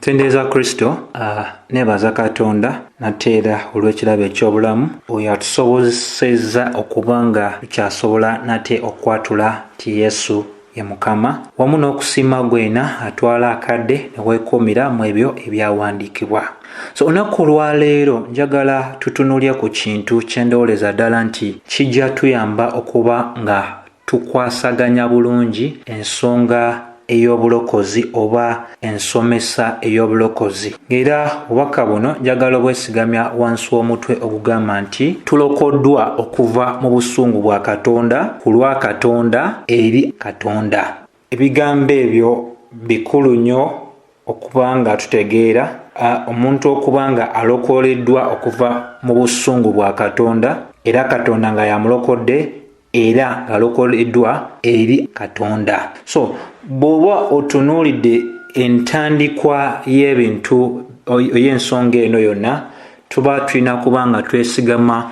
Tendeeza Kristo uh, nebaza Katonda nateera olw'ekirabo eky'obulamu oyo atusobozesezza okuba nga tukyasobola nate okwatula nti Yesu ye Mukama wamu n'okusiima gwena atwala akadde ne weekuumira mu ebyo ebyawandiikibwa. So olunaku olwaleero njagala tutunulye ku kintu kye ndowoleza ddala nti kijja tuyamba okuba nga tukwasaganya bulungi ensonga ey'obulokozi oba ensomesa ey'obulokozi era obubaka buno njagala obwesigamya wansi w'omutwe ogugamba nti tulokoddwa okuva mu busungu bwa katonda ku lwa katonda eri katonda Ebigambo ebyo bikulu nnyo okuba nga tutegeera omuntu okuba nga alokoleddwa okuva mu busungu bwa katonda era katonda nga yamulokodde era ngalokoleddwa eri katonda so bw'oba otunuulidde entandikwa y'ebintu oy'ensonga eno yonna tuba tulina kuba nga twesigama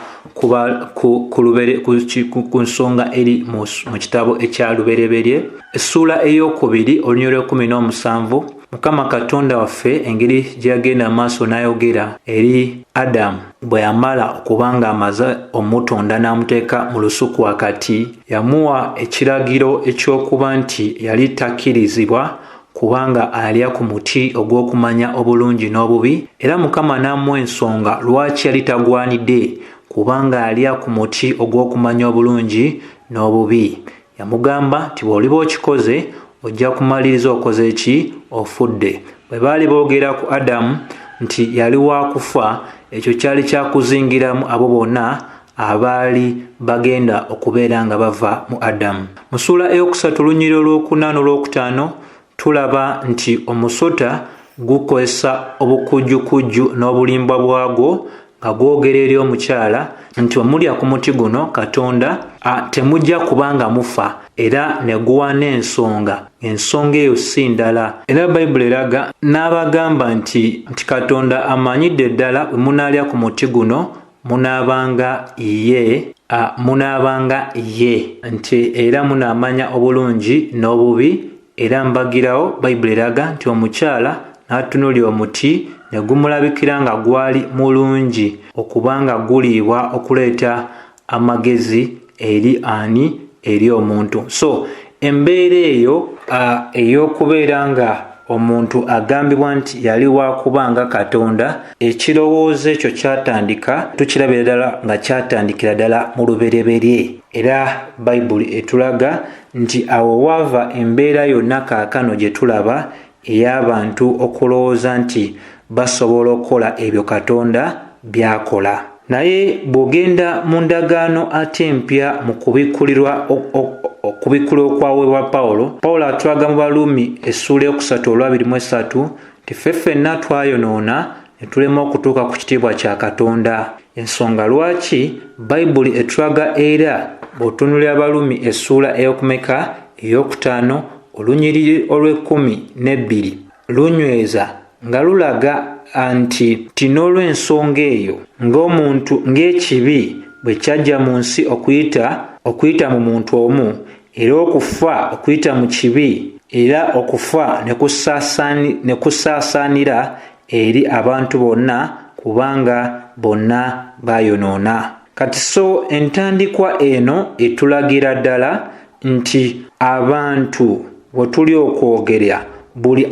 ku nsonga eri mu kitabo ekya lubereberye essuula ey'okubiri olunyolo ekumi n'omusanvu mukama katonda waffe engeri gye yagenda amaaso n'ayogera eri adamu bwe yamala okuba ng'amaze omutonda n'amuteeka mu lusuku wakati yamuwa ekiragiro eky'okuba nti yali takkirizibwa kubanga alya ku muti ogw'okumanya obulungi n'obubi era mukama n'amuwa ensonga lwaki yali tagwanidde kubanga alya ku muti ogw'okumanya obulungi n'obubi yamugamba nti bw'oliba okikoze ojja kumaliriza okoze ki ofudde bwe baali boogera ku adamu nti yali waakufa ekyo kyali kyakuzingiramu abo bonna abaali bagenda okubeera nga bava mu adamu mu suula eyokusatu lunyiri olwokuna n'olwokutaano tulaba nti omusota gukozesa obukujjukujju n'obulimbwa bwagwo nga gwogera eri omukyala nti omulya ku muti guno katonda temujja kubanga mufa era ne guwa n'ensonga ensonga eyo si ndala era bayibuli eraga n'abagamba nti nti katonda amanyidde ddala wemunaalya ku muti guno munaabanga ye a munaabanga ye nti era munaamanya obulungi n'obubi era mbagirawo bayibuli eraga nti omukyala n'atunuli omuti ne gumulabikira nga gwali mulungi okubanga guliibwa okuleeta amagezi eri ani eri omuntu so embeera eyo ey'okubeera nga omuntu agambibwa nti yali wakuba nga katonda ekirowoozo ekyo kyatandika tukirabira ddala nga kyatandikira ddala mu lubereberye era bayibuli etulaga nti awo waava embeera yonna kaakano gye tulaba ey'abantu okulowooza nti basobola okukola ebyo katonda byakola naye bw'ogenda mu ndagaano ate empya mu kubikkulirwa okubikkula okwaweebwa pawulo pawulo atulaga mu baluumi essuula eyokusatu olwabiri mu esatu nti ffe ffenna twayonoona ne tulema okutuuka ku kitiibwa kya katonda ensonga lwaki bayibuli etulaga era bw'otunuli abalumi essuula ey'okumeka ey'okutaano olunyiriri olw'ekkumi n'ebbiri lunyweza nga lulaga nti ti n'olw'ensonga eyo ng'omuntu ng'ekibi bwe kyajja mu nsi okuyita okuyita mu muntu omu era okufa okuyita mu kibi era okufa ne kusaasaanira eri abantu bonna kubanga bonna baayonoona kati so entandikwa eno etulagira ddala nti abantu we tuli okwogerya buli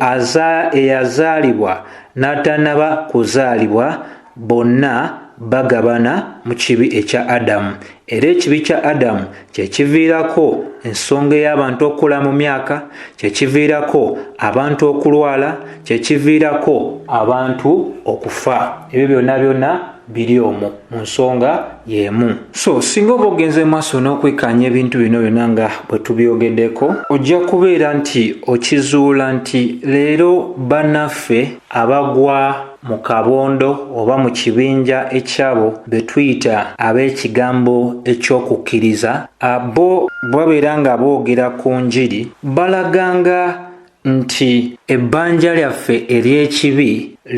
eyazaalibwa n'atanaba kuzaalibwa bonna bagabana mu kibi ekya adamu era ekibi kya adamu kyekiviirako ensonga ey'abantu okukula mu myaka kyekiviirako abantu okulwala kyekiviirako abantu okufa ebyo byonna byonna biri omu mu nsonga y'emu so singa oba ogenze maaso n'okwekkaanya ebintu bino byonna nga bwe tubyogeddeko ojja kubeera nti okizuula nti leero bannaffe abagwa mu kabondo oba mu kibinja ekyabo be tuyita ab'ekigambo eky'okukkiriza abo babeera nga boogera ku njiri balaganga nti ebbanja lyaffe ery'ekibi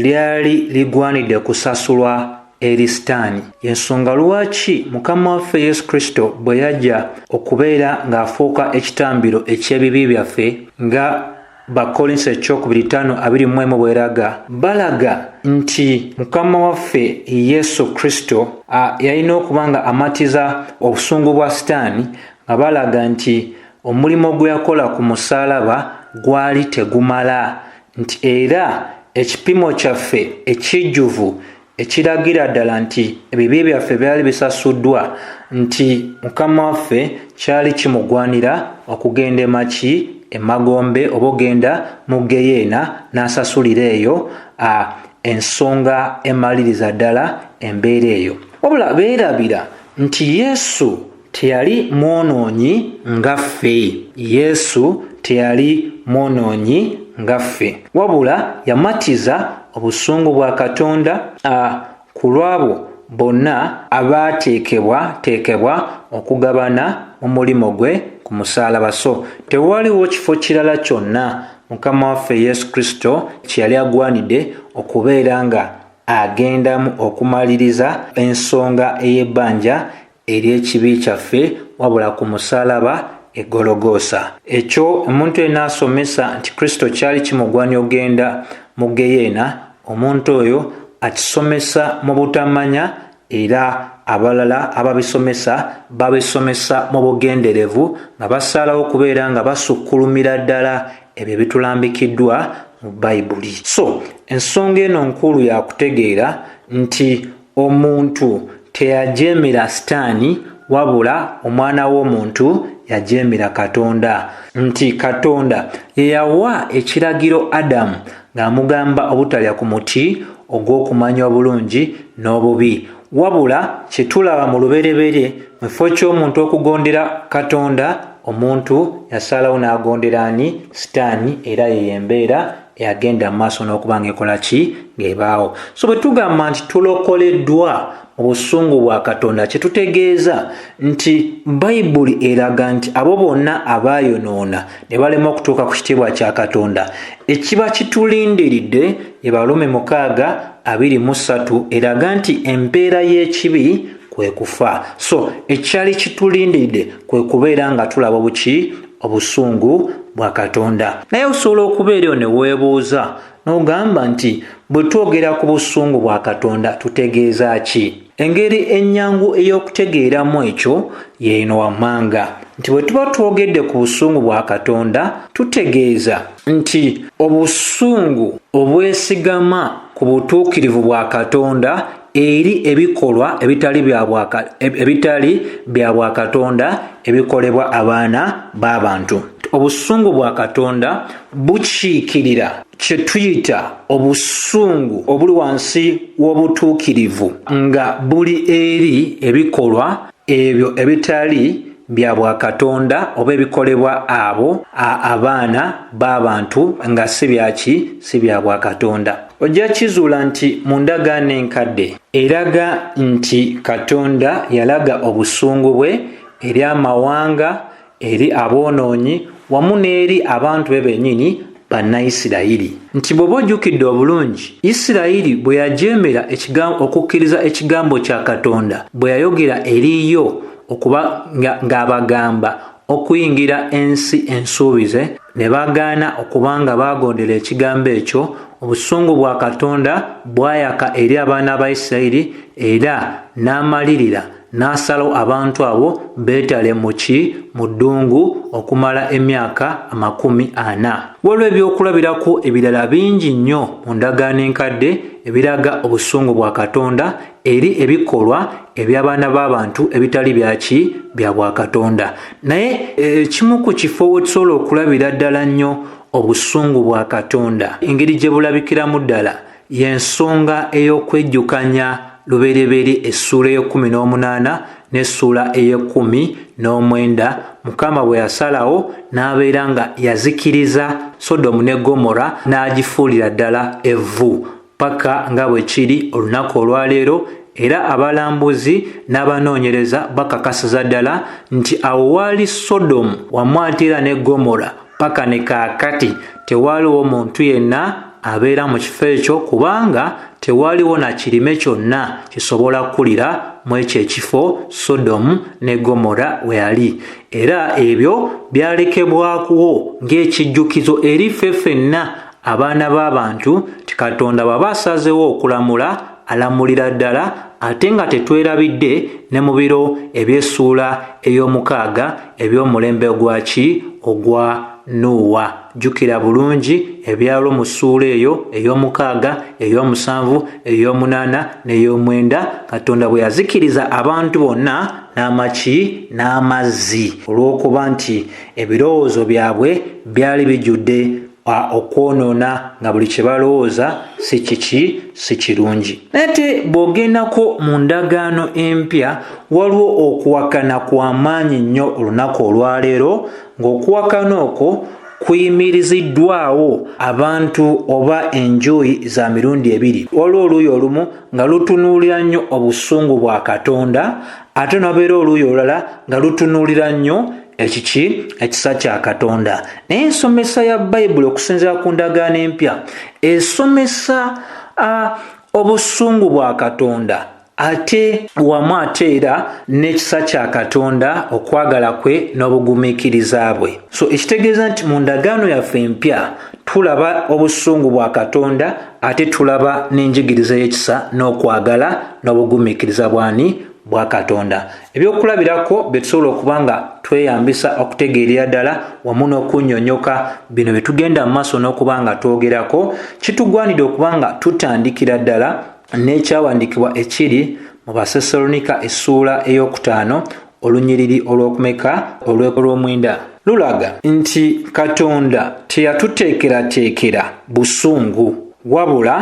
lyali ligwanidde kusasulwa eri sitaani y'ensonga lwaki mukama waffe yesu kristo bwe yajja okubeera ng'afuuka ekitambiro eky'ebibi byaffe nga bakolinso ekyokubiri tano abiri mu emu bweraga balaga nti mukama waffe yesu kristo yalina okuba nga amatiza obusungu bwa sitaani nga balaga nti omulimu gwe yakola ku musaalaba gwali tegumala nti era ekipimo kyaffe ekijjuvu ekiragira ddala nti ebibi byaffe byali bisasuddwa nti mukama waffe kyali kimugwanira okugenda emaki emagombe oba ogenda mu geyeena n'asasulira eyo a ensonga emaliriza ddala embeera eyo wabula beerabira nti yesu Teyali mwonoonyi nga ffe. Yesu teyali mwonoonyi nga ffe, wabula yamatiza obusungu bwa Katonda a ku lw'abo bonna abaateekebwateekebwa okugabana mu mulimu gwe ku musaalaba. So tewaliwo kifo kirala kyonna Mukama waffe Yesu Kristo kye yali agwanidde okubeera nga agendamu okumaliriza ensonga ey'ebbanja eri ekibi kyaffe wabula ku musalaba egologoosa ekyo omuntu ena asomesa nti kristo kyali kimugwani ogenda mu geyeena omuntu oyo akisomesa mu butamanya era abalala ababisomesa babisomesa mu bugenderevu nga basaalawo okubeera nga basukkulumira ddala ebyo bitulambikiddwa mu bayibuli so ensonga eno nkulu yakutegeera nti Omuntu teyajeemera Sitaani, wabula Omwana w'omuntu yajeemera Katonda. Nti Katonda ye yawa ekiragiro Adamu ng'amugamba obutalya ku muti ogw'okumanya obulungi n'obubi. Wabula kye tulaba mu lubereberye, mu kifo ky'omuntu okugondera Katonda, omuntu yasalawo n'agondera ani? Sitaani, era eyo y'embeera eyagenda mu maaso n'okuba ng'ekola ki ng'ebaawo so bwe tugamba nti tulokoleddwa mu busungu bwa katonda kye tutegeeza nti bayibuli eraga nti abo bonna abaayonoona ne balema okutuuka ku kitiibwa kya katonda ekiba kitulindiridde ebalume mukaaga abiri mu ssatu eraga nti empeera y'ekibi kwe kufa so ekyali kitulindiridde kwe kubeera nga tulaba obuki obusungu bwa katonda naye osobola okubeerayo ne weebuuza n'ogamba nti bwe twogera ku busungu bwa katonda tutegeeza ki engeri ennyangu ey'okutegeeramu ekyo yeeno wammanga nti bwe tuba twogedde ku busungu bwa katonda tutegeeza nti obusungu obwesigama ku butuukirivu bwa katonda eri ebikolwa ebitali bya bwakatonda ebikolebwa abaana b'abantu obusungu bwa katonda bukiikirira kye tuyita obusungu obuli wansi w'obutuukirivu nga buli eri ebikolwa ebyo ebitali bya bwakatonda oba ebikolebwa abo abaana b'abantu nga si byaki si bya bwakatonda ojja kizuula nti mu ndagaano enkadde eraga nti katonda yalaga obusungu bwe eri amawanga eri aboonoonyi wamu n'eri abantu be bennyini bannaisirayiri nti bw'oba ojjukidde obulungi isirayiri bwe yajeemera okukkiriza ekigambo kya katonda bwe yayogera eriyo okuba ng'abagamba okuyingira ensi ensuubize ne bagaana okuba nga baagondera ekigambo ekyo obusungu bwa katonda bwayaka eri abaana ba isirayiri era n'amalirira n'asalawo abantu abo beetale mu ki mu ddungu okumala emyaka amakumi ana waliwo ebyokulabirako ebirala bingi nnyo mu ndagaano enkadde ebiraga obusungu bwa katonda eri ebikolwa eby'abaana b'abantu ebitali byaki bya bwakatonda naye ekimu ku kifo we tusobola okulabira ddala nnyo obusungu bwa katonda engeri gye bulabikiramu ddala y'ensonga ey'okwejjukanya lubereberye essuula ey'ekkumi n'omunaana n'essuula ey'ekkumi n'omwenda mukama bwe yasalawo n'abeera nga yazikiriza sodomu ne gomora n'agifuulira ddala evvu paka nga bwe kiri olunaku olwaleero era abalambuzi n'abanoonyereza bakakasiza ddala nti awo waali sodomu wamwatira ne gomora paka ne kaakati tewaaliwo muntu yenna abeera mu kifo ekyo kubanga tewaaliwo na kirime kyonna kisobola kukulira mu ekyo ekifo sodomu ne gomora we yali era ebyo byalekebwakuwo ng'ekijjukizo eri ffe fenna abaana b'abantu ti katonda baba asazewo okulamula alamulira ddala ate nga tetwerabidde ne mu biro eby'essuula ey'omukaaga eby'omulembe ogwaki ogwa nuuwa jjukira bulungi ebyalo mu ssuula eyo ey'omukaaga ey'omusanvu ey'omunaana n'ey'omwenda katonda bwe yazikiriza abantu bonna n'amaki n'amazzi olw'okuba nti ebirowoozo byabwe byali bijjudde okwonoona nga buli kye balowooza si kiki si kirungi naye te bw'ogendako mu ndagaano empya waliwo okuwakana kwa maanyi nnyo olunaku olwaleero ng'okuwakana okwo kuyimiriziddwawo abantu oba enjuyi za mirundi ebiri waliwo oluuyi olumu nga lutunuulira nnyo obusungu bwa katonda ate nabeera oluuyi olulala nga lutunuulira nnyo ekiki ekisa kya katonda naye ensomesa ya bayibuli okusinzira ku ndagaano empya esomesa obusungu bwa katonda ate wamu ate era n'ekisa kya katonda okwagala kwe n'obugumiikiriza bwe so ekitegeeza nti mu ndagaano yaffe empya tulaba obusungu bwa katonda ate tulaba n'enjigiriza y'ekisa n'okwagala n'obugumiikiriza bwani bwa katonda ebyokulabirako bye tusobola okuba nga tweyambisa okutegeerera ddala wamu n'okunyonyoka bino bye tugenda mu maaso n'okuba nga twogerako kitugwanidde okuba nga tutandikira ddala n'ekyawandiikibwa ekiri mu basesalonika essuula ey'okutaano olunyiriri olw'okumeka olw'omwenda lulaga nti katonda teyatuteekerateekera busungu wabula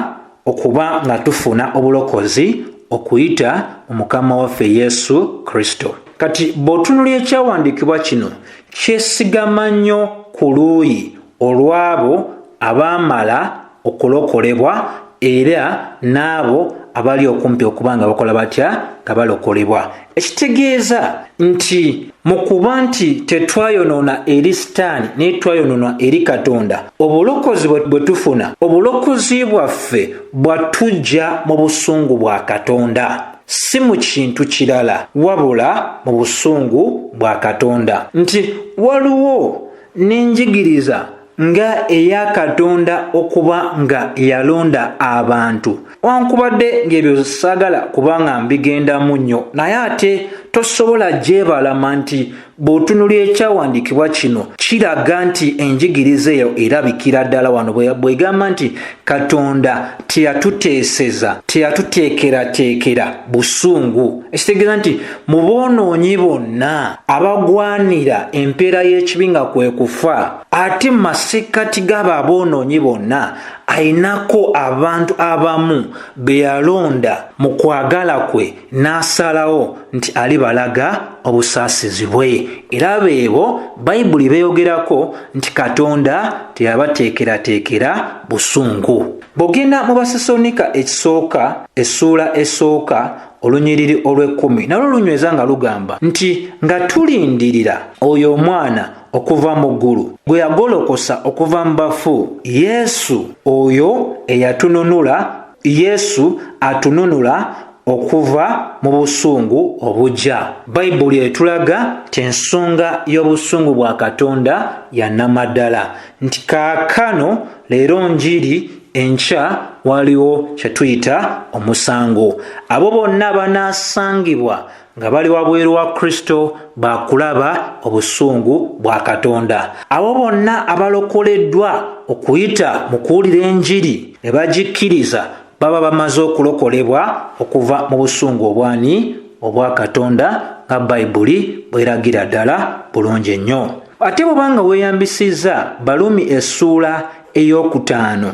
okuba nga tufuna obulokozi okuyita mu mukama waffe yesu kristo kati bw'otunulya ekyawandiikibwa kino kyesigama nnyo ku luuyi olw'abo abaamala okulokolebwa era n'abo abali okumpi okuba nga bakola batya nga balokolebwa ekitegeeza nti mu kuba nti tetwayonoona eri sitaani naye twayonoona eri katonda obulokozi bwe tufuna obulokozi bwaffe bwatujja mu busungu bwa katonda si mu kintu kirala wabula mu busungu bwa katonda nti waliwo n'enjigiriza nga eya katonda okuba nga yalonda abantu wankubadde ng'ebyo saagala kubanga mbigendamu nnyo naye ate tosobola gyebalama nti bw'otunula ekyawandiikibwa kino kiraga nti enjigiriza eyo erabikira ddala wano bwegamba nti katonda teyatuteeseza teyatuteekerateekera busungu ekitegeeza nti mu boonoonyi bonna abagwanira empeera y'ekibi nga kwe kufa ate mu masekkati g'abo aboonoonyi bonna ayinako abantu abamu be yalonda mu kwagala kwe n'asalawo nti alibalaga obusaasizi bwe era beebo bayibuli beeyogerako nti katonda teyabateekerateekera busungu bw'ogenda mu basesonika ekisooka essuula esooka olunyiriri olw'ekkumi nalwo lunyweza nga lugamba nti nga tulindirira oyo omwana okuva mu ggulu gwe yagolokosa okuva mu bafu yesu oyo eyatununula yesu atununula okuva mu busungu obujja bayibuli etulaga nti ensonga y'obusungu bwa katonda yanamaddala nti kaakano leero njiri enkya waliwo kye tuyita omusango abo bonna banaasangibwa nga bali wabweru wa kristo bakulaba obusungu bwa katonda abo bonna abalokoleddwa okuyita mu kuwulira enjiri ne bagikkiriza baba bamaze okulokolebwa okuva mu busungu obwani obwa katonda nga bayibuli bweragira ddala bulungi ennyo ate bwebanga weeyambisizza balumi essuula ey'okutaano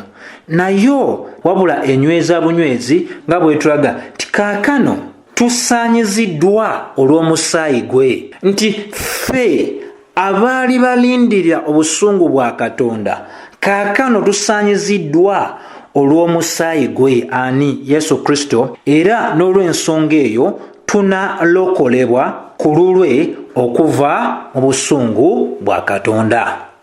nayo wabula enyweza bunywezi nga bwetulaga tikaakano tusaanyiziddwa olw'omusaayi gwe nti ffe abaali balindirira obusungu bwa katonda kaakano tusaanyiziddwa olw'omusaayi gwe ani yesu kristo era n'olw'ensonga eyo tunalokolebwa ku lulwe okuva mu busungu bwa katonda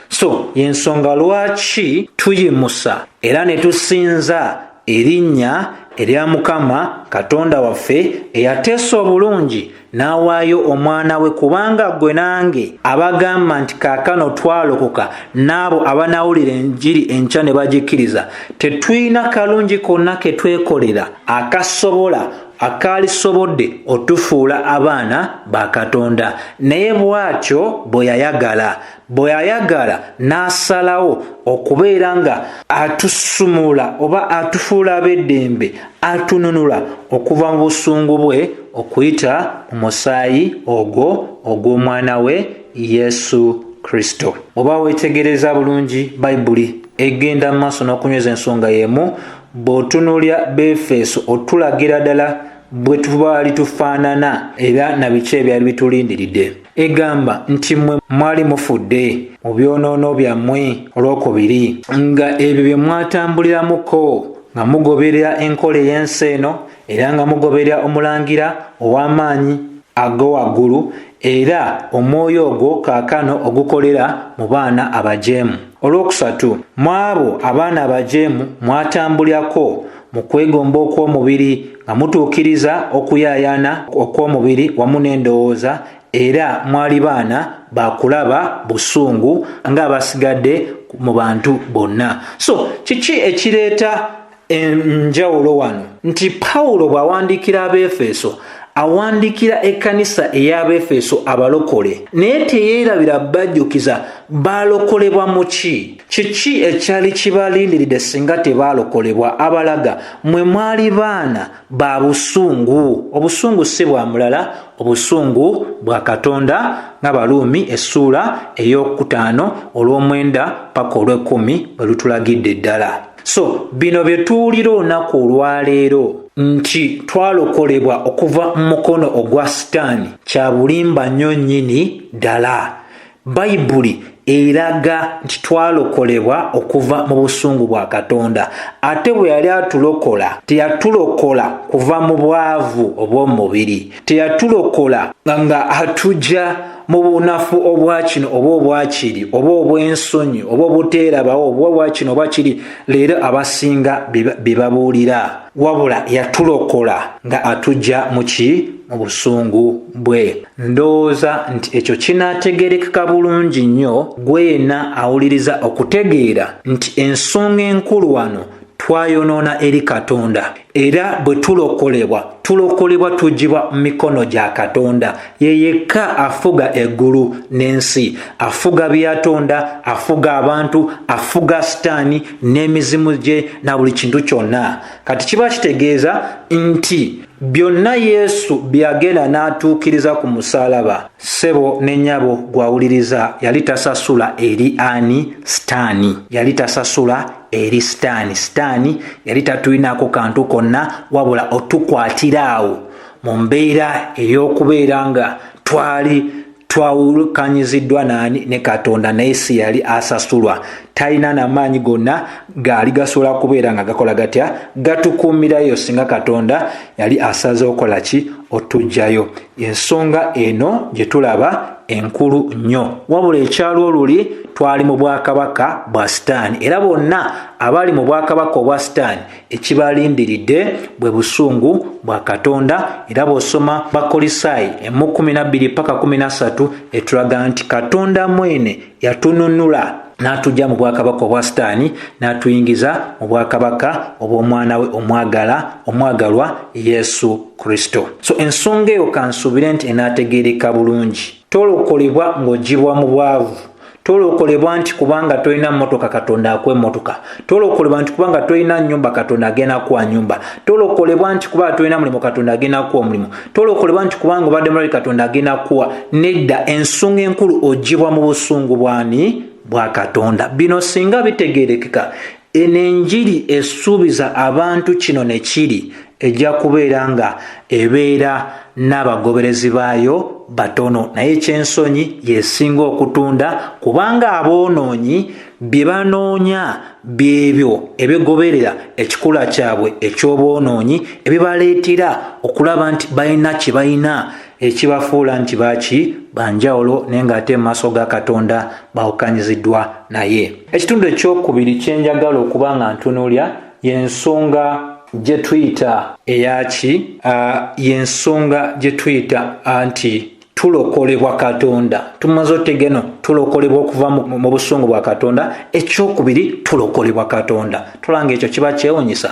so y'ensonga lwaki tuyimusa era ne tusinza Erinnya erya Mukama Katonda waffe eyateesa obulungi n'awaayo omwana we kubanga ggwe nange abagamba nti kaakano twalokoka n'abo abanaawulira enjiri enkya ne bagikkiriza tetulina kalungi konna ke twekolera akasobola akaalisobodde otufuula abaana ba katonda naye bw'atyo bwe yayagala bwe ayagala n'asalawo okubeera nga atusumula oba atufuula ab'eddembe atununula okuva mu busungu bwe okuyita mu musaayi ogwo ogw'omwana we yesu kristo oba weetegereza bulungi bayibuli egenda mu maaso n'okunyweza ensonga y'emu bw'otunuulya befeeso otulagira ddala bwe tubaali tufaanana era na biki ebyali bitulindiridde egamba nti mmwe mwali mufudde mu byonoono byammwe olwokubiri nga ebyo bye mwatambuliramuko nga mugoberera enkola ey'ensi eno era nga mugoberera omulangira ow'amaanyi ago waggulu era omwoyo ogwo kaakano ogukolera mu baana abajeemu olwokusatu mu abo abaana abajeemu mwatambulirako mu kwegomba okw'omubiri nga mutuukiriza okuyaayaana okw'omubiri wamu n'endowooza era mwali baana ba kulaba busungu ng'abasigadde mu bantu bonna so kiki ekireeta enjawulo wano nti pawulo bw'awandiikira abeefeso awandiikira ekkanisa ey'abeefeso abalokole naye teyeerabira bajjukiza baalokolebwa mu ki kiki ekyali kibalindiridde singa tebaalokolebwa abalaga mwe mwali baana ba busungu obusungu si bwa mulala obusungu bwa katonda ng'abaluumi essuula ey'okutaano olw'omwenda paka olw'ekkumi bwe lutulagidde ddala so bino bye tuwulira olunaku olwaleero nti twalokolebwa okuva mu mukono ogwa sitaani kya bulimba nnyo nnyini ddala Bayibuli eraga nti twalokolebwa okuva mu busungu bwa Katonda. Ate bwe yali atulokola, teyatulokola kuva mu bwavu obw'omu mubiri, teyatulokola nga atugya mu bunafu obwa kino oba obwakiri oba obw'ensonyi oba obuteerabawo oba obwa kino oba kiri leero abasinga bye babuulira wabula yatulokola nga atugya mu ki mu busungu bwe ndowooza nti ekyo kinaategerekeka bulungi nnyo gwe yenna awuliriza okutegeera nti ensonga enkulu wano twayonoona eri katonda era bwe tulokolebwa tulokolebwa tugibwa mu mikono gya katonda ye yekka afuga eggulu n'ensi afuga byatonda afuga abantu afuga sitaani n'emizimu gye na buli kintu kyonna kati kiba kitegeeza nti byonna yesu byeyagenda n'atuukiriza ku musaalaba ssebo ne nyabo gwawuliriza yali tasasula eri ani sitaani yali tasasula eri sitaani sitaani yali tatulinaako kantu konna wabula otukwatira awo mu mbeera ey'okubeera nga twali twawukanyiziddwa naani ne katonda naye si yali asasulwa talina namaanyi gonna gaali gasobola kubeera nga gakola gatya gatukuumirayo singa katonda yali asaza okola ki otujjayo ensonga eno gye tulaba enkulu nnyo wabula ekyalo oluli twali mu bwakabaka bwa sitaani era bonna abali mu bwakabaka obwa sitaani ekibalindiridde bwe busungu bwa katonda era bw'osoma bakolisaayi emu 12 paka 13 etulaga nti katonda mwene yatununula n'atujja mu bwakabaka obwa sitaani n'atuyingiza mu bwakabaka obw'omwana we omwagala omwagalwa yesu kristo so ensonga eyo kansuubire nti enaategeereka bulungi tolokolebwa ng'ogibwa mu bwavu tolokolebwa nti kubanga tolina mmotoka katonda akwa emmotoka tolokolebwa nti kubanga tolina nyumba katonda agenda kuwa nyumba tolokolebwa nti kubanga tolina mulimu katonda agenda kuwa omulimu tolokolebwa nti kubanga obadde mulali katonda agenda kuwa nedda ensonga enkulu ogibwa mu busungu bwani bwa katonda bino singa bitegerekeka Eno enjiri esuubiza abantu kino ne kiri, ejja kubeera nga ebeera n'abagoberezi baayo batono, naye eky'ensonyi y'esinga okutunda kubanga aboonoonyi bye banoonya by'ebyo ebigoberera ekikula kyabwe eky'obwonoonyi ebibaleetera okulaba nti balina kye balina ekibafuula nti baaki banjawulo naye ng'ate mu maaso ga katonda bawukanyiziddwa naye ekitundu ekyokubiri kye njagala okuba nga ntunuulya y'ensonga gye tuyita eyaki y'ensonga gye tuyita nti tulokolebwa katonda tumaze otegeno tulokolebwa okuva mu busungu bwa katonda ekyokubiri tulokolebwa katonda tulanga ekyo kiba kyewunyisa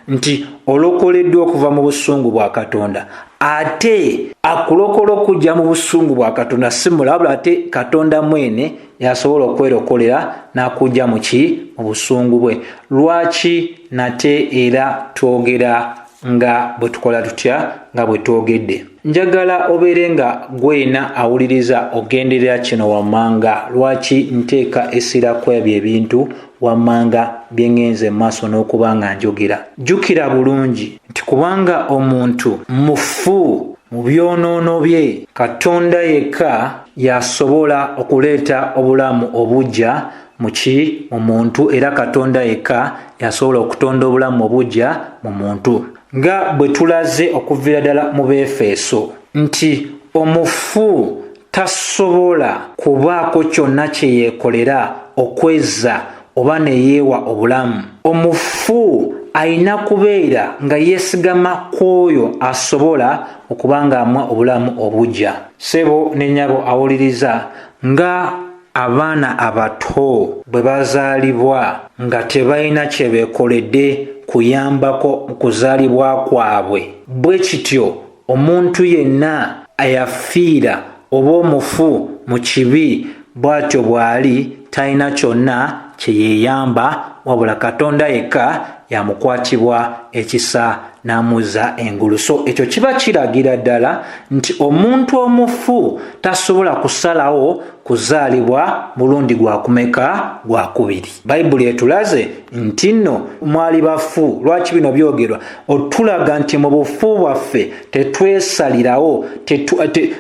nti olokoleddwa okuva mu busungu bwa katonda ate akulokola okujja mu busungu bwa katonda si mulabula ate katonda mwene yasobola okwerokolera n'akujja mu ki mu busungu bwe lwaki nate era twogera nga bwe tukola tutya nga bwe twogedde njagala obeere nga gwena awuliriza ogenderera kino wammanga lwaki nteeka essira kwebyo ebintu wammanga bye ŋŋenze mu maaso n'okuba nga njogera jjukira bulungi nti kubanga omuntu mufu mu byonoono bye katonda yekka y'asobola okuleeta obulamu obujja muki mu muntu era katonda yekka y'asobola okutonda obulamu obujja mu muntu nga bwe tulaze okuviira ddala mu beefeeso nti omufu tasobola kubaako kyonna kye yeekolera okwezza oba ne yeewa obulamu omufu alina kubeera nga yeesigama ku oyo asobola okuba ng'amwa obulamu obugya sebo ne nyabo awuliriza nga abaana abato bwe bazaalibwa nga tebalina kye beekoledde kuyambako mu kuzaalibwa kwabwe bwe kityo Omuntu yenna ayafiira oba omufu mu kibi bw'atyo bw'ali talina kyonna kye yeeyamba wabula Katonda yekka y'amukwatibwa ekisa n'amuzza engulu. So ekyo kiba kiragira ddala nti omuntu omufu tasobola kusalawo kuzaalibwa mulundi gwa kumeka gwa kubiri. Bayibuli etulaze nti nno mwali bafu. Lwaki bino byogerwa? otulaga nti mu bufu bwaffe tetwesalirawo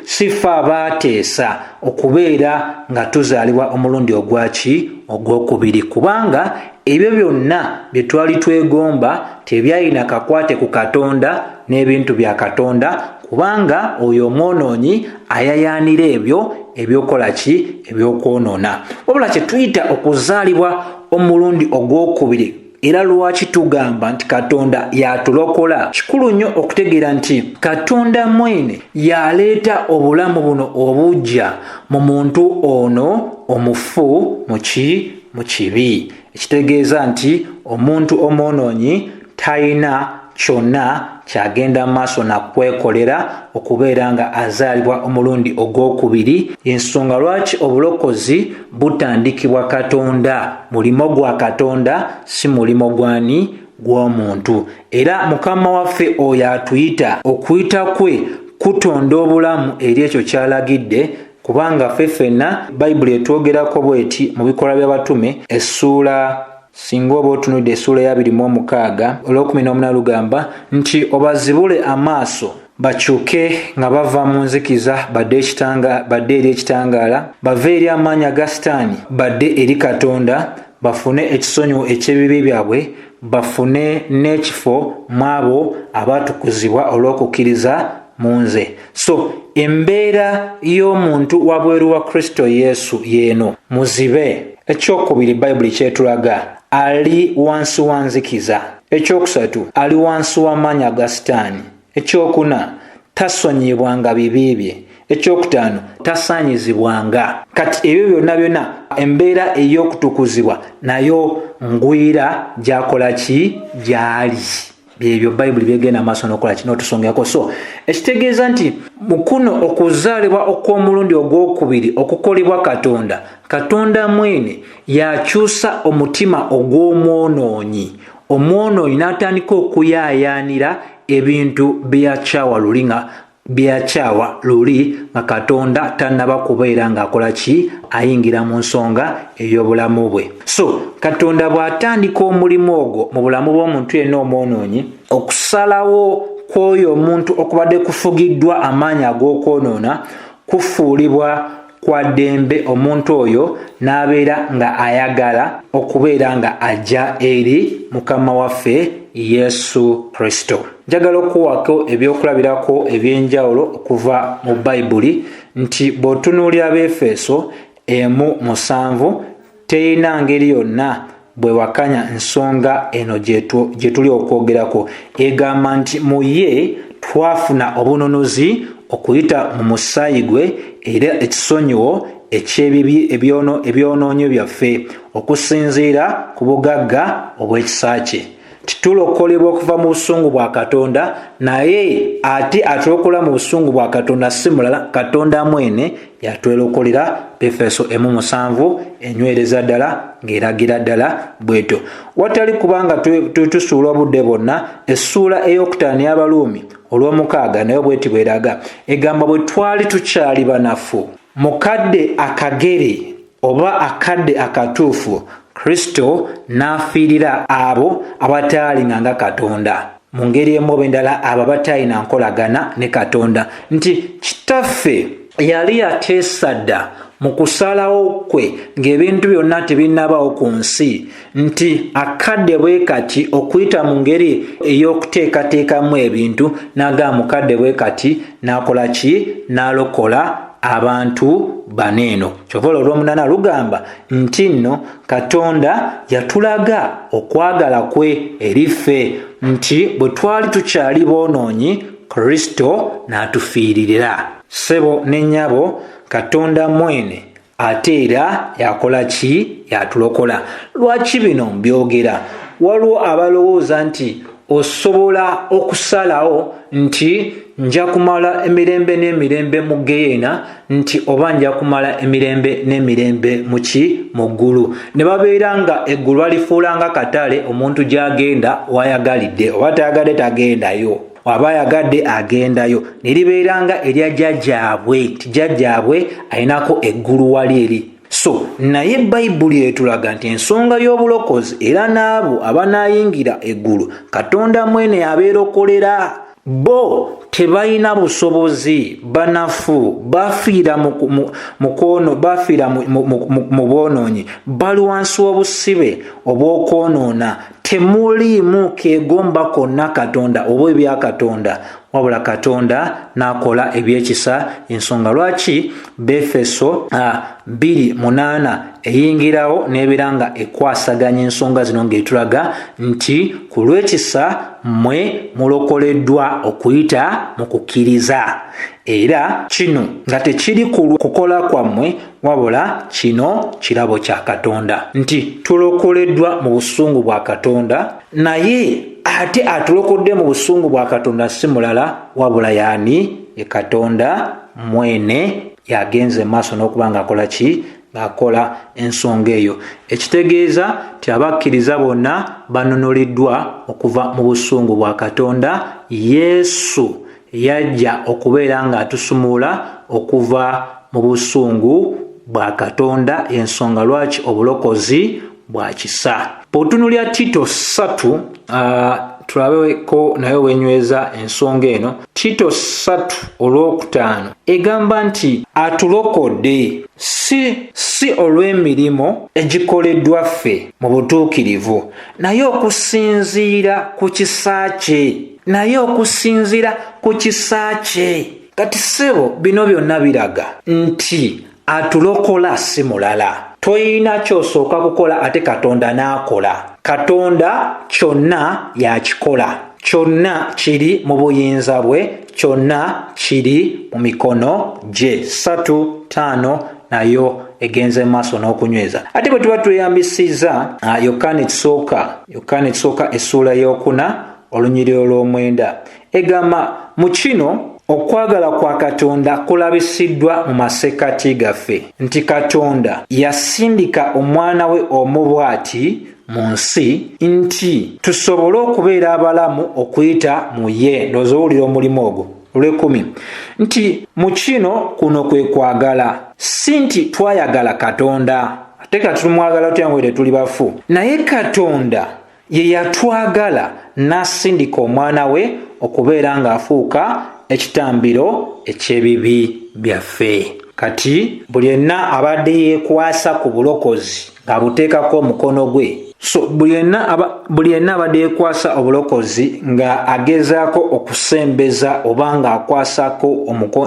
sifa abaateesa okubeera nga tuzaalibwa omulundi ogwaki ogwokubiri kubanga ebyo byonna bye twali twegomba tebyalina kakwate ku katonda n'ebintu bya katonda kubanga oyo omwonoonyi ayayaanira ebyo ebyokola ki ebyokwonoona wabula kye tuyita okuzaalibwa omulundi ogwokubiri era lwaki tugamba nti katonda yatulokola kikulu nnyo okutegeera nti katonda mwene yaleeta obulamu buno obujja mu muntu ono omufu muki mu kibi ekitegeeza nti omuntu omwonoonyi talina kyonna kyagenda mu maaso na kwekolera okubeera nga azaalibwa omulundi ogw'okubiri ensonga lwaki obulokozi butandikibwa katonda mulimo gwa katonda si mulimo gwani gw'omuntu era mukama waffe oyo atuyita okuyita kwe kutonda obulamu eri ekyo kyalagidde kubanga ffe ffenna bayibuli etwogerako bweti mu bikolwa by'abatume essuula Singa oba otunudde essuula ey'abiri mu omukaaga olw'okumi n'omuna lugamba nti obazibule amaaso bakyuke nga bava mu nzikiza badde ekitanga badde eri ekitangaala bave eri amaanyi aga sitaani badde eri katonda bafune ekisonyiwo eky'ebibi byabwe bafune n'ekifo mw'abo abaatukuzibwa olw'okukkiriza munze so embeera y'omuntu wabweru wa kristo yesu yeeno muzibe ekyokubiri bayibuli kyetulaga ali wansi wa nzikiza ekyokusatu ali wansi w'amaanyi aga sitaani ekyokuna tasonyibwanga bibi bye ekyokutaano tasaanyizibwanga kati ebyo byonna byonna embeera ey'okutukuzibwa nayo ngwira gyakola ki gyali byebyo bayibuli byegenda maaso nokola kino otusongako so ekitegeeza nti mukuno okuzaalibwa okw'omulundi ogw'okubiri okukolebwa katonda katonda mwene yakyusa omutima ogw'omwonoonyi omwonoonyi n'atandika okuyaayaanira ebintu byeyakyawa luli nga byakyawa luli nga katonda tannaba kubeera ng'akola ki ayingira mu nsonga ey'obulamu bwe so katonda bw'atandika omulimu ogwo mu bulamu bw'omuntu yenna omwonoonyi okusalawo kw'oyo omuntu okubadde kufugiddwa amaanyi ag'okwonoona kufuulibwa kwa ddembe omuntu oyo n'abeera nga ayagala okubeera nga ajja eri mukama waffe yesu kristo njagala okuwako ebyokulabirako eby'enjawulo okuva mu bayibuli nti bw'otunuulira befeeso emu musanvu terina ngeri yonna bwe wakanya nsonga eno gye tuli okwogerako egamba nti mu ye twafuna obununuzi okuyita mu musaayi gwe era ekisonyiwo ekyebibi ebyonoonyo byaffe okusinziira ku bugagga obw'ekisa kye titulokolebwa okuva mu busungu bwa katonda naye ate atulokola mu busungu bwa katonda si mulala katonda mwene yatwelokolera befeso emu musanvu enywereza ddala ng'eragira ddala bwetyo watali kubanga tusuula obudde bwonna essuula ey'okutaano y'abaluumi olw'omukaaga naye bweti bweraga egamba bwe twali tukyali banafu mukadde akagere oba akadde akatuufu kristo n'afiirira abo abataalinga nga katonda mu ngeri emu oba endala abo abataalina nkolagana ne katonda nti kitaffe yali yateesa dda mu kusalawo kwe ng'ebintu byonna tebinnabawo ku nsi nti akadde bwe kati okuyita mu ngeri ey'okuteekateekamu ebintu n'agamba mukadde bwe kati n'akola ki n'alokola abantu bana eno kyova olwo olwomunana lugamba nti nno katonda yatulaga okwagala kwe eri ffe nti bwe twali tukyali boonoonyi kristo n'atufiiririra ssebo ne nnyabo katonda mwene ate era yakola ki yatulokola lwaki bino mbyogera waliwo abalowooza nti osobola okusalawo nti nja kumala emirembe n'emirembe mu geyeena nti oba nja kumala emirembe n'emirembe muki mu ggulu ne babeera nga eggulu balifuulanga katale omuntu gy'agenda wayagalidde oba tayagadde tagendayo aba ayagadde agendayo ne libeera nga erya jjajjaabwe nti jjajjaabwe alinako eggulu wali eri so naye bayibuli etulaga nti ensonga y'obulokozi era n'abo abanaayingira eggulu katonda mwene abeerokolera bo tebalina busobozi banafu bafiira mukwono bafiira mu bwonoonyi bali wansi w'obusibe obw'okwonoona temuliimu kegomba konna katonda oba ebya katonda wabula katonda n'akola ebyekisa ensonga lwaki befeso bbiri munaana eyingirawo n'ebeera nga ekwasaganya ensonga zino ng'etulaga nti ku lw'ekisa mmwe mulokoleddwa okuyita mu kukkiriza era kino nga tekiri kukola kwammwe wabula kino kirabo kya katonda nti tulokoleddwa mu busungu bwa katonda naye ate atulokodde mu busungu bwa katonda si mulala wabula yaani ye katonda mwene yagenze maaso n'okuba ngaakola ki ngaakola ensonga eyo ekitegeeza ti abakkiriza bonna banunuliddwa okuva mu busungu bwa katonda yesu Yajja okubeera ng'atusumulula okuva mu busungu bwa Katonda y'ensonga lwaki obulokozi bwa kisa. Bw'otunulira Tito ssatu tulabeko naye wenyweza ensonga eno tito satu olwokutaano egamba nti atulokodde si si olw'emirimu egikoleddwa ffe mu butuukirivu naye okusinziira ku kisa kye naye okusinziira ku kisa kye kati ssebo bino byonna biraga nti atulokola si mulala toyina kyosooka kukola ate katonda n'akola katonda kyonna yakikola kyonna kiri mu buyinza bwe kyonna kiri mu mikono gye satu taano nayo egenze mu maaso n'okunyweza ate bwe tuba tweyambisizza ah, yokaana ekisooka yokaana ekisooka essuula y'okuna olunyiriro lw'omwenda egamba mu kino okwagala kwa katonda kulabisiddwa mu masekkati gaffe nti katonda yasindika omwana we omu bw'ati mu nsi nti tusobole okubeera abalamu okuyita mu ye ndooza owulira omulimu ogwo olwekumi nti mu kino kuno kwe kwagala si nti twayagala katonda ate kati tumwagala tutya nga tetuli bafu naye katonda Ye yatwagala n'asindika omwana we okubeera ng'afuuka ekitambiro eky'ebibi byaffe. Kati buli yenna abadde yeekwasa ku bulokozi ng'abuteekako omukono gwe. So buli yenna abadde yeekwasa obulokozi ng'agezaako okusembeza oba ng'akwasako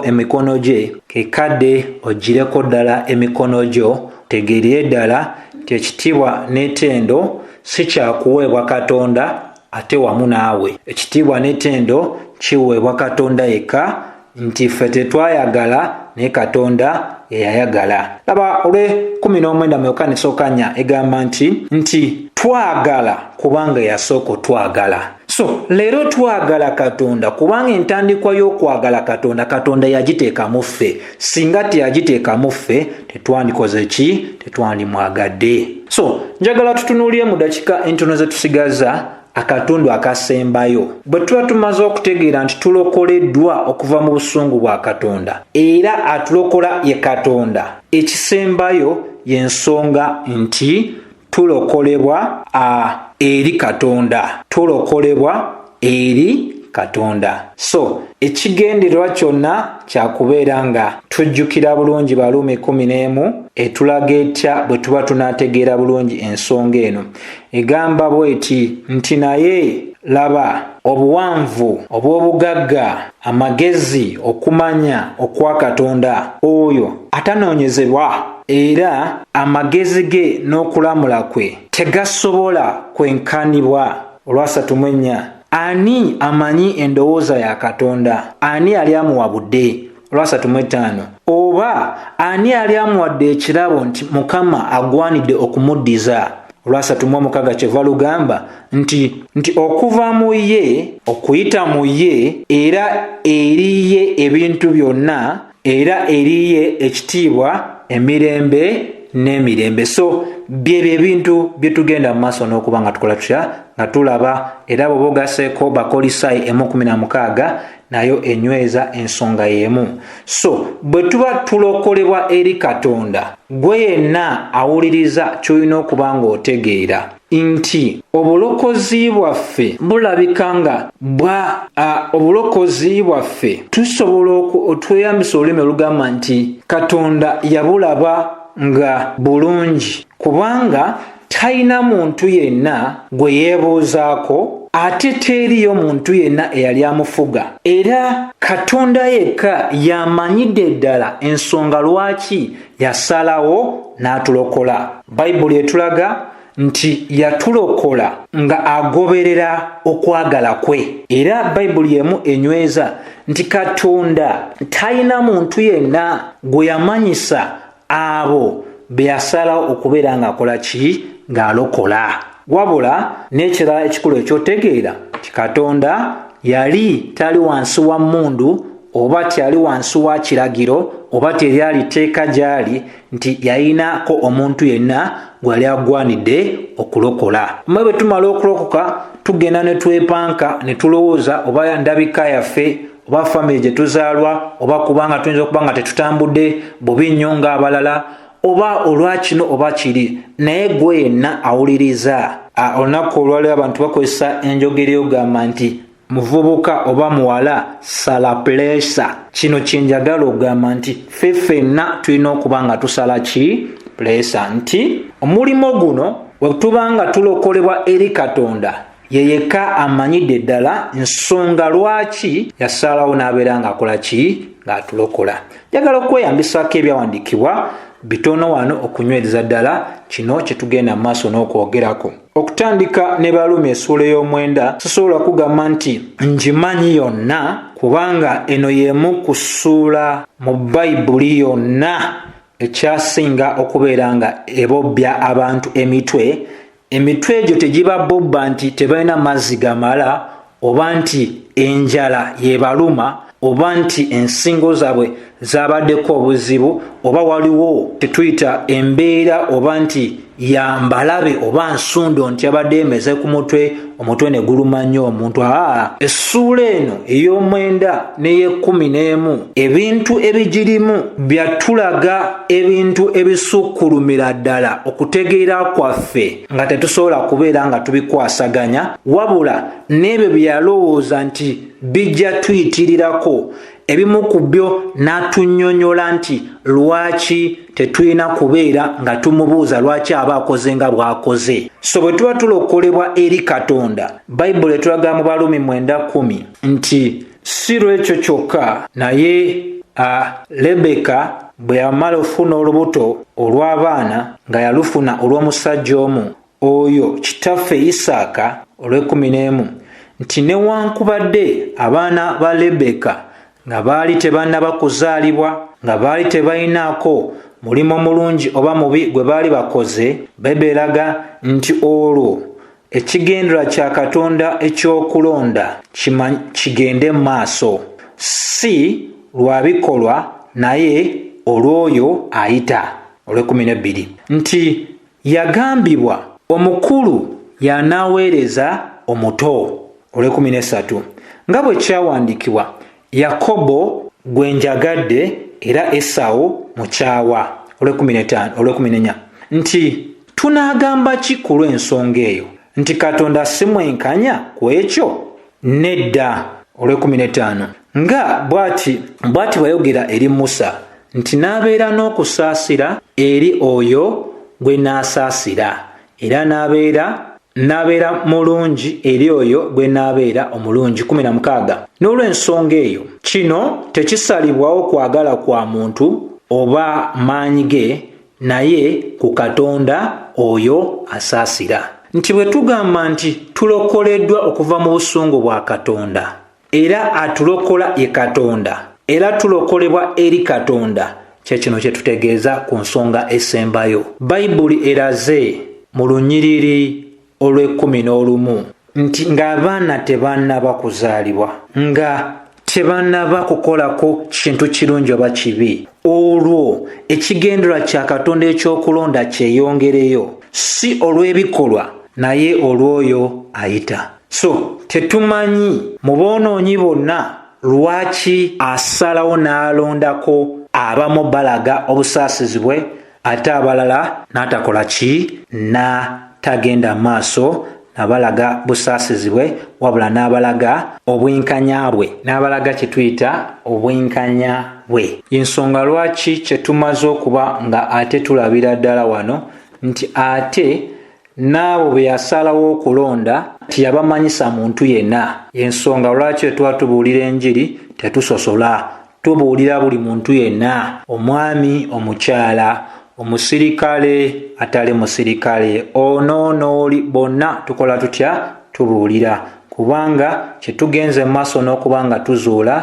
emikono gye, kekadde oggyireko ddala emikono gyo, tegeerire ddala nti ekitiibwa n'etendo si kyakuweebwa katonda ate wamu naawe ekitiibwa n'etendo kiweebwa katonda yekka nti ffe tetwayagala naye katonda yeyayagala laba olwe 19 myoka nesokanya egamba nti nti twagala kubanga yasooka otwagala so leero twagala katonda kubanga entandikwa y'okwagala katonda katonda yagiteeka mu ffe singa teyagiteekamu ffe tetwandikoze ki tetwandimwagadde so njagala tutunuulire mu dakika entono ze tusigaza akatundu akasembayo bwe tuba tumaze okutegeera nti tulokoleddwa okuva mu busungu bwa katonda era atulokola ye katonda ekisembayo y'ensonga nti tulokolebwa a eri katonda tulokolebwa eri katonda so ekigendererwa kyonna kyakubeera nga tujjukira bulungi baluumi kumi n'emu etulaga etya bwe tuba tunaategeera bulungi ensonga eno egamba bweti nti naye laba obuwanvu obw'obugagga Amagezi, okumanya, okwa Katonda, oyo atanoonyezebwa, era amagezi ge n'okulamula kwe tegasobola kwenkanibwa. Olwasatu mu ennya, ani amanyi endowooza ya Katonda? Ani yali amuwabudde? Olwasatu mu ettaano, oba ani yali amuwadde ekirabo nti Mukama agwanidde okumuddiza? olwasatu mu omukaga kyeva lugamba nti nti okuva mu ye okuyita mu ye era eriye ebintu byonna era eriye ekitiibwa emirembe n'emirembe so byebyo ebintu bye tugenda mu maaso n'okuba nga tukola tutya nga tulaba era bwoba ogaseeko bakolisayi emu kumi na mukaaga nayo enyweza ensonga y'emu so bwe tuba tulokolebwa eri katonda gwe yenna awuliriza ky'olina okuba ng'otegeera nti obulokozi bwaffe bulabika nga bwa obulokozi bwaffe tusobola otweyambisa olulimi olugamba nti katonda yabulaba nga bulungi kubanga talina muntu yenna gwe yeebuuzaako ate teriyo muntu yenna eyali amufuga era katonda yekka y'amanyidde ddala ensonga lwaki yasalawo n'atulokola bayibuli etulaga nti yatulokola nga agoberera okwagala kwe era bayibuli emu enyweza nti katonda talina muntu yenna gwe yamanyisa abo beyasalawo okubeera ng'akola ki ng'alokola wabula n'ekirala ekikulu ekyotegeera nti katonda yali tali wansi wa mmundu oba tyali wansi wa kiragiro oba teryali tteeka gy'ali nti yayinaako omuntu yenna gwe yali agwanidde okulokola mwe bwe tumala okulokoka tugenda ne twepanka ne tulowooza oba ndabika yaffe oba famiry gye tuzaalwa oba kubanga tuyinza okuba nga tetutambudde bubi nnyo ng'abalala oba olwakino oba kiri naye gwe yenna awuliriza olunaku olwaliwo abantu bakozesa enjogera eyogamba nti muvubuka oba muwala sala pulesa kino kyenjagala okugamba nti fe fenna tulina okuba nga tusala ki pulesa nti omulimu guno wetuba nga tulokolebwa eri katonda ye yekka amanyidde ddala nsonga lwaki yasaalawo n'abeera ng'akola ki ng'atulokola njagala okweyambisako ebyawandiikibwa bitono wano okunywereza ddala kino kye tugenda mu maaso n'okwogerako okutandika ne baluumi esuula ey'omwenda sisobola kugamba nti ngimanyi yonna kubanga eno y'emu ku ssuula mu bayibuli yonna ekyasinga okubeera nga ebobya abantu emitwe emitwe egyo tegibabobba nti tebalina mazzi gamala oba nti enjala yebaluma oba nti ensingo zaabwe zabaddeko obuzibu oba waliwo tetuyita embeera oba nti yambalabe oba nsundo nti abadde emeze ku mutwe omutwe ne guluma nnyo omuntu aa essuula eno ey'omwenda n'ey'ekkumi n'emu ebintu ebigirimu bya tulaga ebintu ebisukkulumira ddala okutegeera kwaffe nga tetusobola kubeera nga tubikwasaganya wabula n'ebyo bye yalowooza nti bijja tuyitirirako ebimu ku byo n'atunyonyola nti lwaki tetulina kubeera nga tumubuuza lwaki aba akoze nga bw'akoze so bwe tuba tulokolebwa eri katonda bayibuli etulaga mu balumi mwenda kumi nti si lw'ekyo kyokka naye a lebeka bwe yamala okufuna olubuto olw'abaana nga yalufuna olw'omusajja omu Oyo kitaffe Isaaka, olw'ekkumi n'emu, nti newankubadde abaana ba Lebbeeka nga baali tebannaba kuzaalibwa, nga baali tebalinaako mulimu mulungi oba mubi gwe baali bakoze, Baibuli eraga nti olwo ekigendererwa kya Katonda eky'okulonda kigende mu maaso, si lwa bikolwa, naye olw'oyo ayita, olw'ekkumi n'ebbiri, nti yagambibwa omukulu y'anaaweereza omuto olw'ekumi n'essatu nga bwe kyawandiikibwa yakobo gwe njagadde era esawo mukyawa olw'ekumi n'etaano olw'ekumi n'enya nti tunaagamba ki ku lw'ensonga eyo nti katonda si mwenkanya ku ekyo nedda olw'ekumi n'etaano nga bwati bwati bwayogera eri musa nti n'abeera n'okusaasira eri oyo gwe n'asaasira era n'abeera n'abeera mulungi eri oyo gwe n'abeera omulungi kumi na mukaaga n'olw'ensonga eyo kino tekisalibwawo kwagala kwa muntu oba maanyi ge naye ku katonda oyo asaasira nti bwe tugamba nti tulokoleddwa okuva mu busungu bwa katonda era atulokola ye katonda era tulokolebwa eri katonda kyekino kyetutegeeza ku nsonga esembayo bayibuli eraze mu lunyiriri olw'ekkumi n'olumu nti ng'abaana tebanaba kuzaalibwa nga tebanaba kukolako kintu kirungi oba kibi olwo ekigendera kya katonda eky'okulonda kyeyongereyo si olw'ebikolwa naye olw'oyo ayita so tetumanyi mu boonoonyi bonna lwaki asalawo n'alondako abamu balaga obusaasizi bwe ate abalala n'atakola ki na tagenda maaso nabalaga busaasizi bwe wabula n'abalaga obwenkanya bwe n'abalaga kye tuyita obwenkanya bwe yensonga lwaki kye tumaze okuba nga ate tulabira ddala wano nti ate n'abo be yasalawo okulonda tiyabamanyisa muntu yenna ensonga lwaki etwatubuulira enjiri tetusosola tubuulira buli muntu yenna omwami omukyala omusirikale atali musirikale onoonooli bonna tukola tutya tubuulira kubanga kye tugenze mu maaso n'okuba nga tuzuula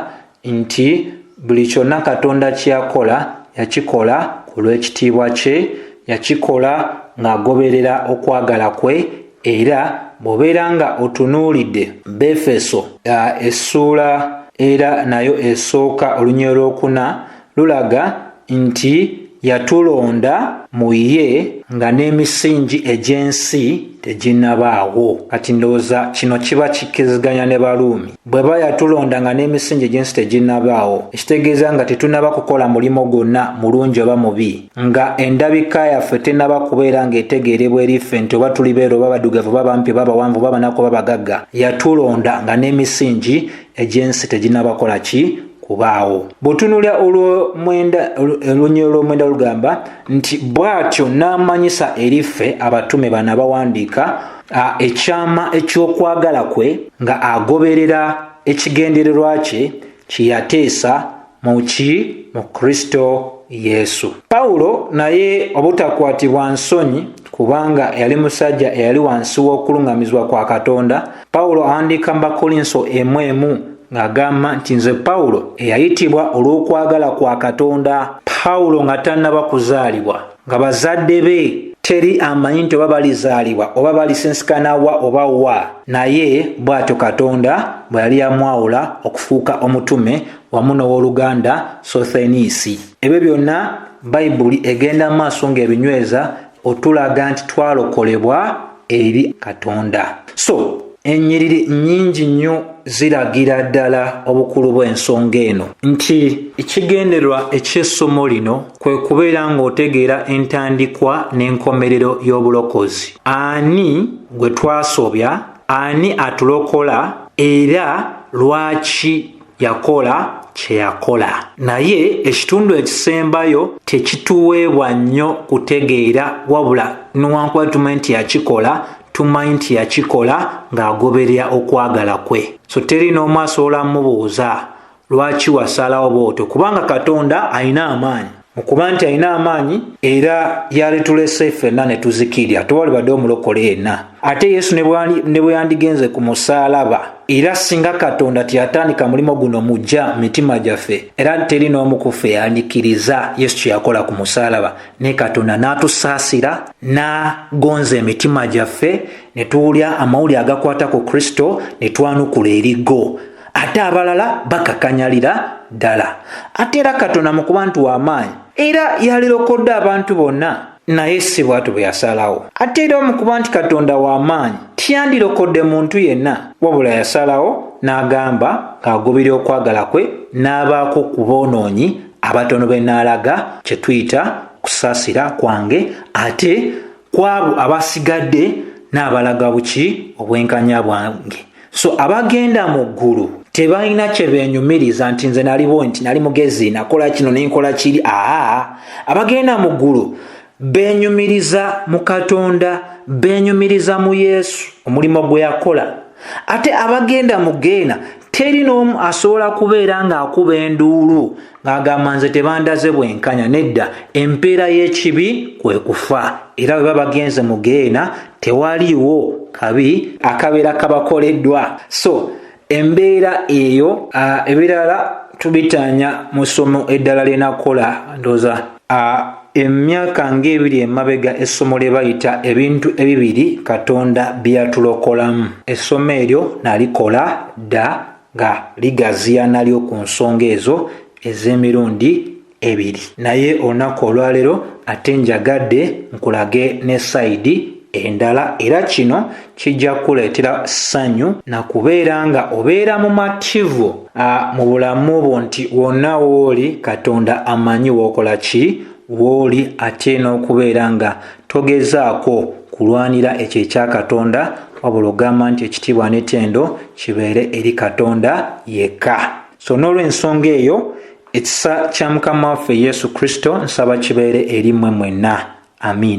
nti buli kyonna katonda kyeyakola yakikola ku lw'ekitiibwa kye yakikola ng'agoberera okwagala kwe era bw'obeera nga otunuulidde befeso essuula era nayo esooka olunyirolwokuna lulaga nti yatulonda mu ye nga n'emisingi egy'ensi teginnabaawo. Kati ndowooza kino kiba kikkiriziganya ne Baruumi. Bw'eba yatulonda nga n'emisingi egy'ensi teginnabaawo, ekitegeeza nga tetunnaba kukola mulimu gwonna, mulungi oba mubi, nga endabika yaffe tennaba kubeera nga etegeerebwa eri ffe nti oba tuli beeru oba baddugavu oba bampi oba bawanvu oba banaku oba bagagga, yatulonda nga n'emisingi egy'ensi teginabakola ki kubaawo bw'otunulira olwonnyero lw'omwenda lugamba nti bw'atyo n'amanyisa eri ffe abatume bana bawandiika ekyama eky'okwagala kwe nga agoberera ekigendererwa kye kye yateesa mu ki mu kristo yesu pawulo naye obutakwatibwa nsonyi kubanga yali musajja eyali wansi w'okuluŋŋamizibwa kwa katonda pawulo awandiika mu bakolinso emu emu ng'agamba nti nze pawulo eyayitibwa olw'okwagala kwa katonda pawulo nga tannaba kuzaalibwa nga bazadde be teri amanyi nti oba balizaalibwa oba balisinsikana wa oba wa naye bw'atyo katonda bwe yali yamwawula okufuuka omutume wamu n'ow'oluganda sotheniisi ebyo byonna bayibuli egenda mu maaso ng'ebinyweza otulaga nti twalokolebwa eri katonda so ennyiriri nnyingi nnyo ziragira ddala obukulu bw'ensonga eno nti ekigendererwa eky'essomo lino kwe kubeera ng'otegeera entandikwa n'enkomerero y'obulokozi ani gwe twasobya ani atulokola era lwaki yakola kye yakola naye ekitundu ekisembayo tekituweebwa nnyo kutegeera wabula newankuba tumanyi nti yakikola tumanyi nti yakikola ng'agoberera okwagala kwe so teri n'omu asobola mubuuza lwaki wasalawo bwotyo kubanga katonda alina amaanyi mu kuba nti alina amaanyi era yalitulese ffenna ne tuzikirya tewalibadde omulokole yenna ate yesu ne bwe yandigenze ku musaalaba era singa katonda teyatandika mulimu guno mujja mu mitima gyaffe era teri n'omu kuffe yandikiriza yesu kye yakola ku musaalaba ne katonda n'atusaasira n'agonza emitima gyaffe ne tuwulya amawuli agakwata ku kristo ne twanukula erigo ate abalala bakakanyalira ddala ate era katonda mu kuba nti w'amaanyi era yalirokodde abantu bonna naye si bwatu bwe yasalawo ate era mu kuba nti katonda w'amaanyi tiyandirokodde muntu yenna wabula yasalawo n'agamba ng'agubira okwagala kwe n'abaako ku boonoonyi abatono be n'alaga kye tuyita kusaasira kwange ate kwabo abasigadde n'abalaga buki obwenkanya bwange so abagenda mu ggulu tebalina kye beenyumiriza nti nze naliwo nti nali mugezi nakola kino nenkola kiri aa abagenda mu ggulu beenyumiriza mu katonda beenyumiriza mu yesu omulimu gwe yakola ate abagenda mu geena teri n'omu asobola kubeera ng'akuba enduulu agamba nze tebandaze bwenkanya nedda empeera y'ekibi kwe kufa era bwe babagenze mu geena tewaliwo kabi akabeera kabakoleddwa so embeera eyo ebirala tubitaanya mu ssomo eddala lyenakukola ndooza emyaka ng'ebiri emabega essomo lye bayita ebintu ebibiri katonda byeyatulokolamu essomo eryo nalikola dda nga ligaziyana lyo ku nsonga ezo ez'emirundi ebiri naye olunaku olwaleero ate njagadde nkulage ne sayidi endala era kino kijja kukuleetera ssanyu na kubeera nga obeera mu mativu mu bulamu bwo nti wonna wooli katonda amanyi wookola ki wooli ate n'okubeera nga togezaako kulwanira ekyo ekya katonda wabula ogamba nti ekitiibwa n'etendo kibeere eri katonda yekka so n'olwensonga eyo ekisa kya mukama waffe yesu kristo nsaba kibeere eri mmwe mwenna amiina